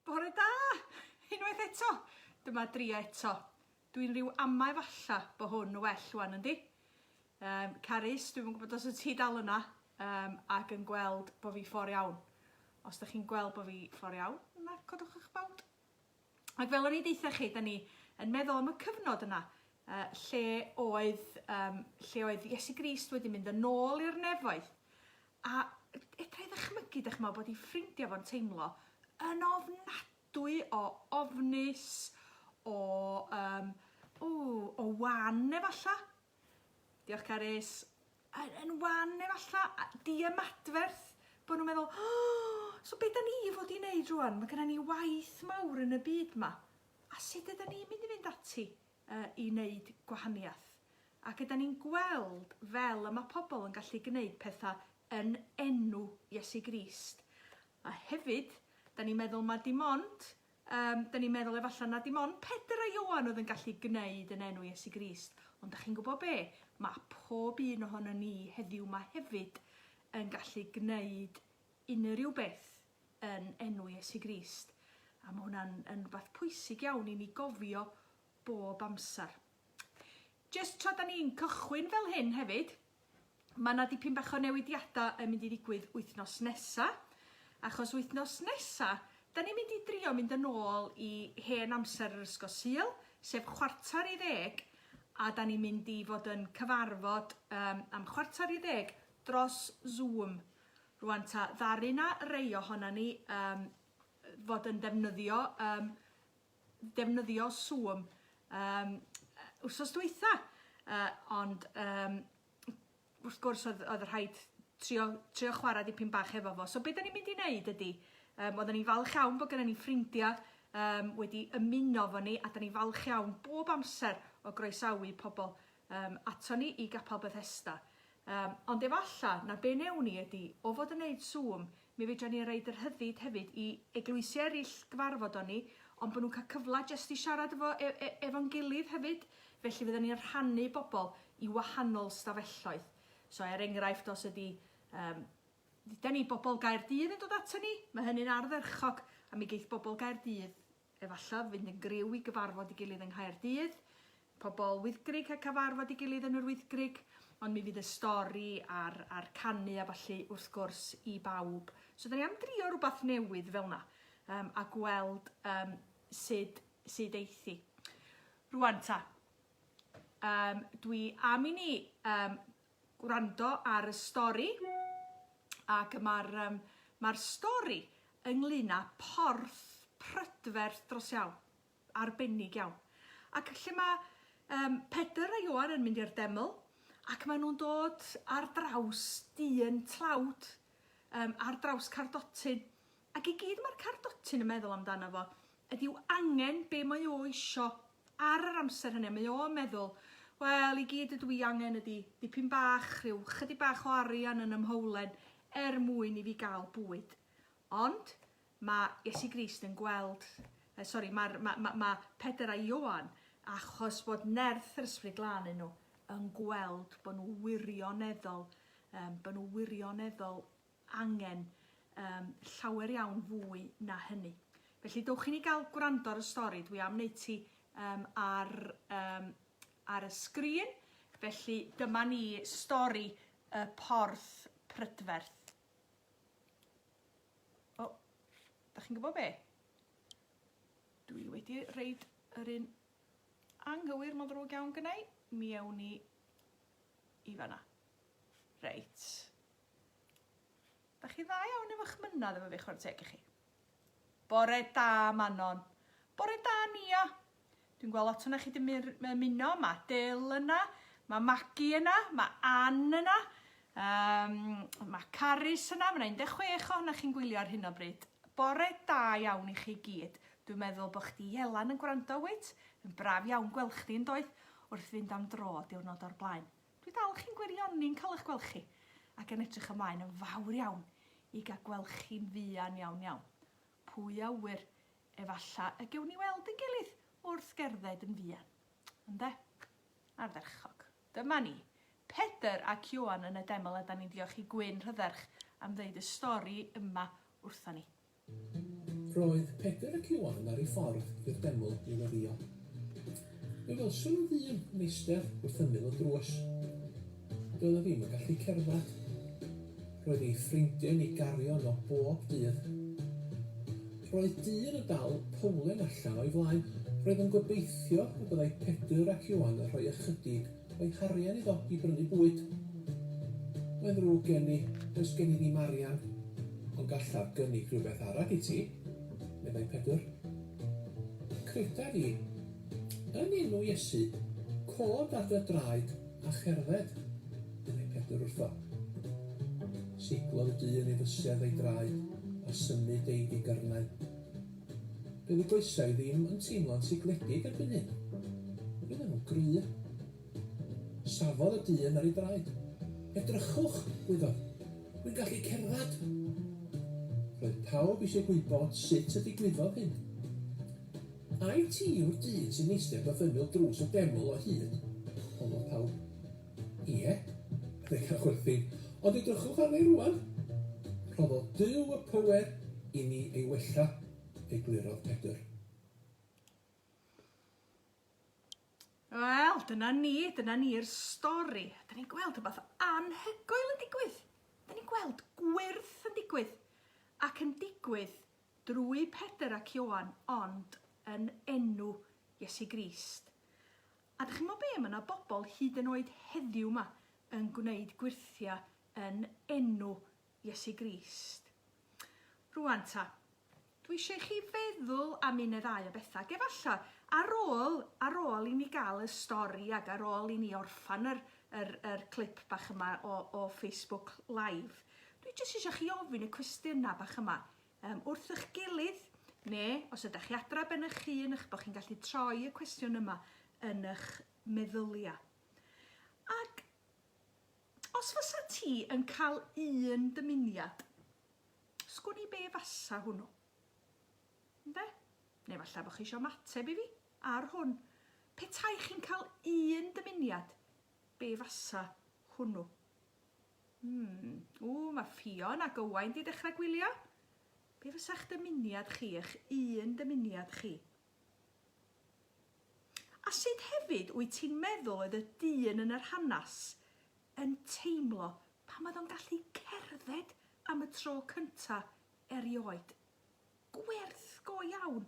Bore da! Unwaith eto, dyma drio eto. Dwi'n rhyw ama efalla bo hwn yn well wan yndi? Um, Carys, dwi'n gwybod os y ti dal yna um, ac yn gweld bo fi ffordd iawn. Os da chi'n gweld bo fi ffordd iawn, yna codwch eich bawd. Ac fel o'n i'n deutha chi, da ni yn meddwl am y cyfnod yna uh, lle, oedd, um, lle oedd Iesu Grist wedi mynd yn ôl i'r nefoedd. A edra i ddychmygu, da chi'n meddwl, bod i ffrindiau fo'n teimlo yn ofnadwy o ofnus, o, um, o, o wan efallai. Diolch Carys. Yn, yn wan efalla, diymadferth, bod nhw'n meddwl, oh, so be da ni fod i wneud rwan? Mae gennym ni waith mawr yn y byd yma. A sut ydyn ni'n mynd i fynd ati uh, i wneud gwahaniaeth? Ac ydyn ni'n gweld fel y mae pobl yn gallu gwneud pethau yn enw Iesu Grist. A hefyd, da ni'n meddwl mae dim ond Yym, 'da ni'n meddwl efallai na dim ond Pedr a Ioan oedd yn gallu gwneud yn enw Iesu Grist, ond 'da chi'n gwybod be? Mae pob un ohono ni heddiw 'ma hefyd yn gallu gwneud unrhyw beth yn enw Iesu Grist. A mae hwnna'n yn rhywbeth pwysig iawn i ni gofio bob amser. Jyst tra 'da ni'n cychwyn fel hyn hefyd, Mae 'na dipyn bach o newidiadau yn mynd i ddigwydd wythnos nesa, achos wythnos nesa, da ni'n mynd i drio mynd yn ôl i hen amser yr ysgol syl, sef chwarter i ddeg, a da ni'n mynd i fod yn cyfarfod um, am chwarter i ddeg dros Zoom. Rwan ta, ddaru na rei ohono ni um, fod yn defnyddio um, ddefnyddio Zoom um, wrsos dweitha. Uh, ond um, wrth gwrs oedd, oedd rhaid trio, trio chwarae dipyn bach efo fo. So beth da ni'n mynd i wneud ydy, um, oedden ni'n falch iawn bod gennym ni ffrindiau um, wedi ymuno fo ni a da ni'n falch iawn bob amser o groesawu pobl Yym, aton ni i Gapel Bethesda. Yym, ond efalla na be newn ni ydi, o fod yn neud Zoom, mi fedran ni roid y rhyddid hefyd i eglwysi erill gyfarfod o ni, ond bo nhw'n cael cyfla jest i siarad efo e- e- efo'n gilydd hefyd, felly fyddan ni'n rhannu bobl i wahanol stafelloedd. So, er enghraifft, os ydi, yym, ddeudan ni bobl Gaerdydd yn dod aton ni, ma' hynny'n ardderchog, a mi geith bobl Gaerdydd Efallaf fydd yn griw i gyfarfod i gilydd yng Nghaerdydd, pobl Wyddgrug a cyfarfod i gilydd yn yr Wyddgrug, ond mi fydd y stori a'r, a'r canu a ballu wrth gwrs i bawb. So da ni am drio rhywbeth newydd fel yna um, a gweld um, sut, sut eithi. Rwan ta, um, dwi am i ni um, gwrando ar y stori ac mae'r um, mae'r stori ynglyn â porth prydferth dros iawn, arbennig iawn. Ac lle mae um, Pedr a Ioan yn mynd i'r deml ac maen nhw'n dod ar draws dyn tlawd um, ar draws cardotyn Ac i gyd mae'r cardotyn yn meddwl amdano fo ydyw angen be mae o isio ar yr amser hynny. Mae o yn meddwl, wel, i gyd ydw i angen ydy dipyn bach, rhyw chydig bach o arian yn ymhowlen er mwyn i fi gael bwyd. Ond mae Iesu Grist yn gweld, eh, sori, mae ma, ma, ma Peder a Ioan, achos bod nerth yr ysbryd glân yn nhw, yn gweld bod nhw wirioneddol, um, bod nhw wirioneddol angen um, llawer iawn fwy na hynny. Felly dowch i ni gael gwrando ar y stori, dwi am wneud ti um, ar, um, ar y sgrin, felly dyma ni stori y porth prydferth. O, oh, da chi'n gwybod be? Dwi wedi reid yr un anghywir mae'n ddrwg iawn gynnau, mi ewn ni i fanna. Reit. Dach chi dda iawn efo'ch mynna ddim yn fi chwarae teg i chi. Bore da, Manon. Bore da, Nia. Dwi'n gweld lot o'na chi di ymuno. Mae Dyl yna. Mae Maggie yna. Mae Ann yna. Um, mae Carys yna. Mae 16 o hynna chi'n gwylio ar hyn o bryd. Bore da iawn i chi gyd. Dwi'n meddwl bod chdi Elan yn gwrando wyt. Yn braf iawn gweld chdi yn doeth wrth fynd am dro diwrnod o'r blaen. Dwi dal chi'n gwirioni'n cael eich gweld chi ac yn edrych ymlaen yn fawr iawn i gael gweld chi'n fuan iawn iawn. Pwy a ŵyr, efalla y gewn ni weld ein gilydd wrth gerdded yn fuan. Ynde? Ardderchog. Dyma ni, Pedr ac Ioan yn y deml a 'dan ni'n diolch i Gwyn Rhydderch am ddeud y stori yma wrthon ni. Roedd Pedr y Cywan ar ei ffordd i'r deml i weddïo. Fe welsom ni ddyn yn eistedd wrth ymyl y drws. Doedd o ddim yn gallu cerdded. Roedd ei ffrindiau'n ei gario yno bob dydd. Roedd dyn yn dal powlen allan o'i flaen. Roedd yn gobeithio y byddai Pedr y Cywan yn rhoi ychydig Rhoi harian iddo i brynu bwyd. Mae'n ddrwg gen i, does gen i ddim arian. Ond gallaf gynnig rhywbeth arall i ti, meddai Pedr. Credaf i, yn enw Iesu, cod ar dy draed a cherdded, meddai Pedr wrtho. Seiglodd y dyn ei fysedd a'i draed a symud ei ddigyrnau. Dyw y goesau ddim yn teimlo'n sigledig erbyn hyn. Rydw i'n meddwl, gryf. Safodd y dyn ar ei draed. Edrychwch! gwyddor. Rwy'n gallu cerdded! Roedd pawb eisiau gwybod sut y digwyddodd hyn. Ai ti yw'r dyn sy'n eistedd wrth ymyl drws y deml o hyd? honnodd pawb. Ie, ddechrau chwythu, ond edrychwch arni rŵan! Rhoddodd Duw y pŵer i ni ei wella, eglurodd Pedr. Wel, dyna ni, dyna ni'r stori. Dyn ni'n gweld rhywbeth anhygoel yn digwydd. Dyn ni'n gweld gwyrth yn digwydd. Ac yn digwydd drwy Pedr ac Ioan, ond yn enw Iesu Grist. A dych chi'n gwybod be, mae 'na bobl hyd yn oed heddiw 'ma yn gwneud gwyrthiau yn enw Iesu Grist. Rŵan ta, dwi eisiau i chi feddwl am un neu ddau o bethau, ac efalla ar ôl, ar ôl i ni gael y stori ac ar ôl i ni orffan yr, yr, yr clip bach yma o, o Facebook Live, dwi jyst eisiau chi ofyn y cwestiynau bach yma. Yym, wrth eich gilydd, neu os ydych chi adra ben eich hun, eich bod chi'n gallu troi y cwestiwn yma yn eich meddylia. Ac os fysa ti yn cael un dymuniad, sgwn i be fasa hwnnw? Ynde? Neu falle bod chi eisiau mateb i fi ar hwn. Petai chi'n cael un dymuniad, be fasa hwnnw? Hmm. Ww, mae Ffion ac Owain 'di dechrau gwylio. Be fysa'ch dymuniad chi, eich un dymuniad chi? A sut hefyd wyt ti'n meddwl oedd y dyn yn yr hanes yn teimlo pan oedd o'n gallu cerdded am y tro cynta' erioed? Gwerth go iawn.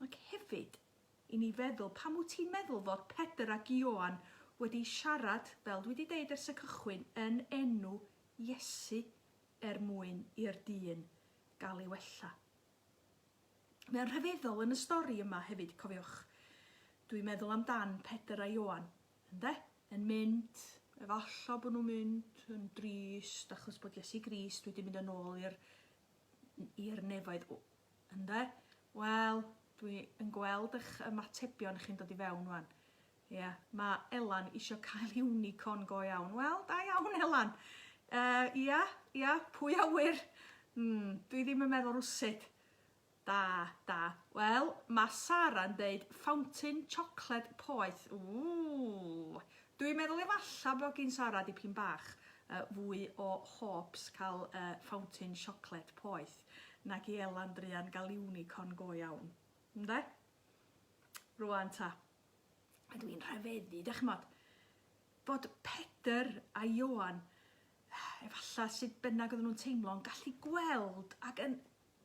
Ac hefyd, i ni feddwl, pam wyt ti'n meddwl fod Pedr ac Ioan wedi siarad, fel dwi 'di deud ers y cychwyn, yn enw Iesu er mwyn i'r dyn gael ei wella? Mae o'n rhyfeddol yn y stori yma hefyd, cofiwch. Dwi'n meddwl amdan Pedr a Ioan, ynde? Yn mynd, efallai bod nhw'n mynd yn drist achos bod Iesu Grist wedi mynd yn ôl i'r i'r nefoedd w- ynde? Wel, dwi yn gweld ych ymatebion chi'n dod i fewn wan. Ie, mae Elan isio cael unicorn go iawn. Wel, da iawn Elan. Uh, ia, ia, pwy a wir? Mm, dwi ddim yn meddwl rwsyd. Da, da. Wel, mae Sara yn deud fountain chocolate poeth. Ww, Dwi'n meddwl efalla bod gin Sara dipyn bach fwy o hopes cael fountain siocled poeth nag i Elan druan gael unicorn go iawn. Ynde? Rwan ta. A dwi'n rhyfeddu, dych ch'mod, bod Pedr a Ioan, efalla sut bynnag oedden nhw'n teimlo, yn gallu gweld ac yn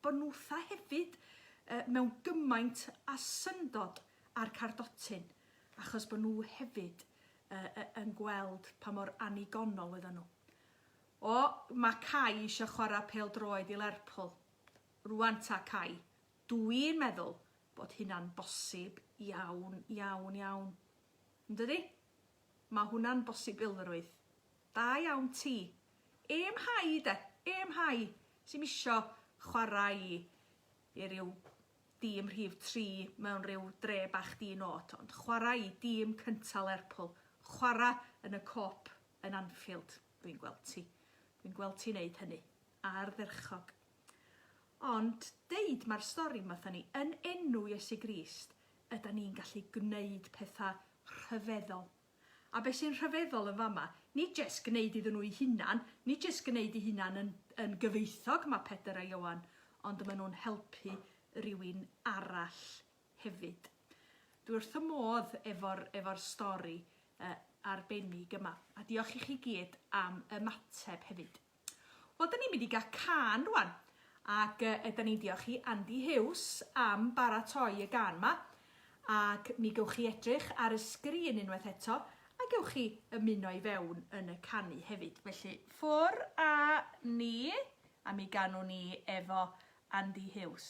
Bonwtha hefyd mewn gymaint a syndod a'r cardotyn achos bod nhw hefyd yn gweld pa mor annigonol oedden nhw. O, mae Cai eisiau chwarae pêl-droed i Lerpwl. Rwan ta, Cai. Dw i'n meddwl bod hynna'n bosib iawn, iawn, iawn. Yn dydi? Mae hwnna'n bosibilrwydd. Da iawn ti. Aim high de, aim high. Ti'm isio chwarae i i ryw dîm rhif tri mewn rhyw dre bach di not, ond chwarae i dîm cynta Lerpwl. Chwara yn y Kop yn Anfield. Dwi'n gweld ti. Dwi'n gweld ti wneud hynny. Ardderchog. Ond deud mae'r stori 'ma wrtha ni, yn enw Iesu Grist, ydan ni'n gallu gwneud pethau rhyfeddol. A be sy'n rhyfeddol yn fama, nid jest gwneud iddyn nhw'u hunan, nid jest gwneud eu hunan yn, yn gyfoethog, mae Pedr a Ioan, ond maen nhw'n helpu rhywun arall hefyd. Dwi wrth y modd efo'r efo stori uh, arbennig yma. A diolch i chi gyd am ymateb hefyd. Wel, da ni'n mynd i gael cân rwan, ac uh, da ni'n diolch i Andy Hughes am baratoi y gân yma, ac mi gewch chi edrych ar y sgrin unwaith eto, a gewch chi ymuno i fewn yn y canu hefyd. Felly, ffwr a ni, a mi ganwn ni efo Andy Hughes.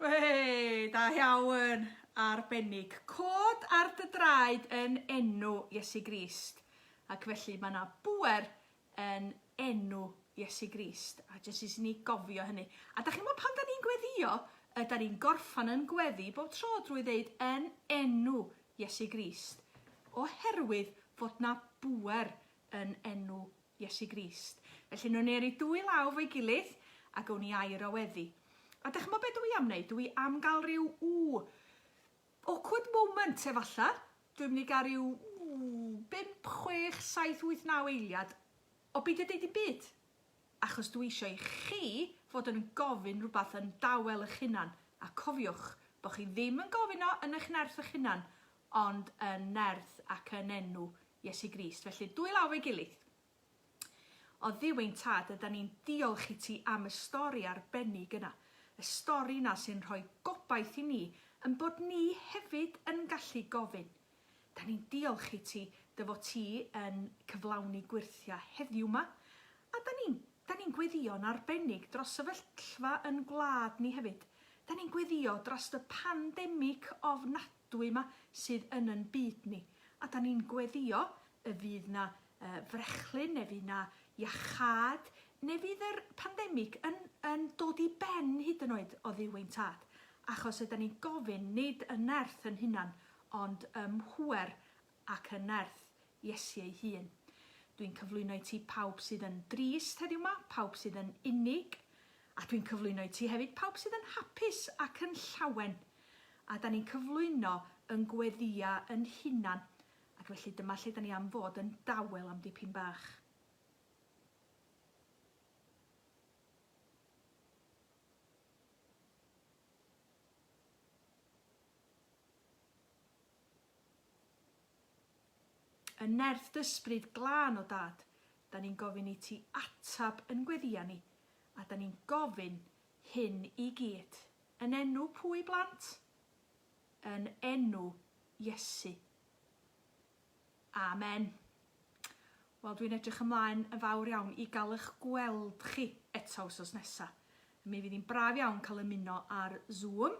Whee! Da iawn! Arbennig! Cod ar dy draed yn enw Iesu Grist. Ac felly mae 'na bŵer yn enw Iesu Grist. A jyst i ni gofio hynny. A da chi'n gwybod pan da ni'n gweddio, da ni'n gorffan yn gweddi bob tro drwy ddeud yn enw Iesu Grist. Oherwydd fod 'na bŵer yn enw Iesu Grist. Felly newn ni yrru dwy law 'fo'i gilydd, a gown ni air o weddi. A 'dych ch'mod be' dw i am neud? Dw i am ga'l ryw, ww, awkward moment efalla'. Dw i'n myn' i ga'l ryw, ww, bump, chwech, saith, wyth, naw eiliad o beidio deud dim byd, achos dw i isio i chi fod yn gofyn rwbath yn dawel 'ych hunan, a cofiwch, bo' chi ddim yn gofyn o yn 'ych nerth 'ych hunan, ond yn nerth ac yn enw Iesu Grist. Felly, dwy law efo'i gilydd. O Dduw ein Tad, yda ni'n diolch i ti am y stori arbennig yna. Y stori yna sy'n rhoi gobaith i ni yn bod ni hefyd yn gallu gofyn. Da ni'n diolch i ti dy fod ti yn cyflawni gwyrthia heddiw yma. A da ni'n da ni'n gweddio'n arbennig dros sefyllfa yn gwlad ni hefyd. Da ni'n gweddio dros y pandemig ofnadwy Dwi 'ma, sydd yn yn byd ni. A 'dan ni'n gweddio y fydd 'na frechlyn ne' fydd 'na iachâd ne' fydd yr pandemig yn yn dod i ben hyd yn oed o Dduw ein Tad, achos ydan ni'n gofyn nid yn nerth yn hunan ond ym mhŵer ac yn nerth Iesu ei hun. Dwi'n cyflwyno i ti pawb sydd yn drist heddiw 'ma, pawb sydd yn unig, a dwi'n cyflwyno i ti hefyd pawb sydd yn hapus ac yn llawen. A 'dan ni'n cyflwyno yn gweddia yn hunan, ac felly dyma lle 'dan ni am fod yn dawel am dipyn bach. Yn nerth d'ysbryd glân o Dad, 'dan ni'n gofyn i ti ateb yn gweddia ni, a 'dan ni'n gofyn hyn i gyd, yn enw pwy blant? Yn enw Iesu. Amen. Wel, dwi'n edrych ymlaen yn fawr iawn i gael eich gweld chi eto wsos nesa. Mi fydd hi'n braf iawn cael ymuno ar Zoom.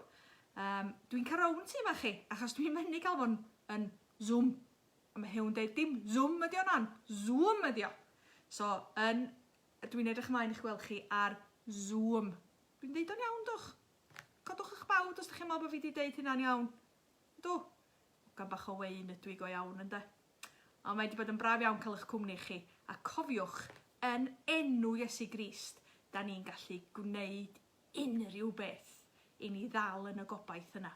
Um, dwi'n cael rownd ti yma chi, achos dwi'n mynnu gael fo'n yn Zoom. A mae Huw'n deud, dim Zoom ydi o nan, Zoom ydi o. So, yn, dwi'n edrych ymlaen i'ch gweld chi ar Zoom. Dwi'n deud o'n iawn, dwch. Codwch eich bawd os ydych chi'n meddwl bod fi wedi deud hynna'n iawn. Dw. Hogan bach o wein ydw i go iawn ynde? Ond mae 'di bod yn braf iawn cael eich cwmni chi, a cofiwch, yn enw Iesu Grist, da ni'n gallu gwneud unrhyw beth i ni ddal yn y gobaith yna.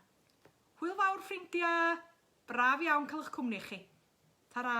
Hwyl fawr ffrindia! Braf iawn cael eich cwmni chi. Ta-ra!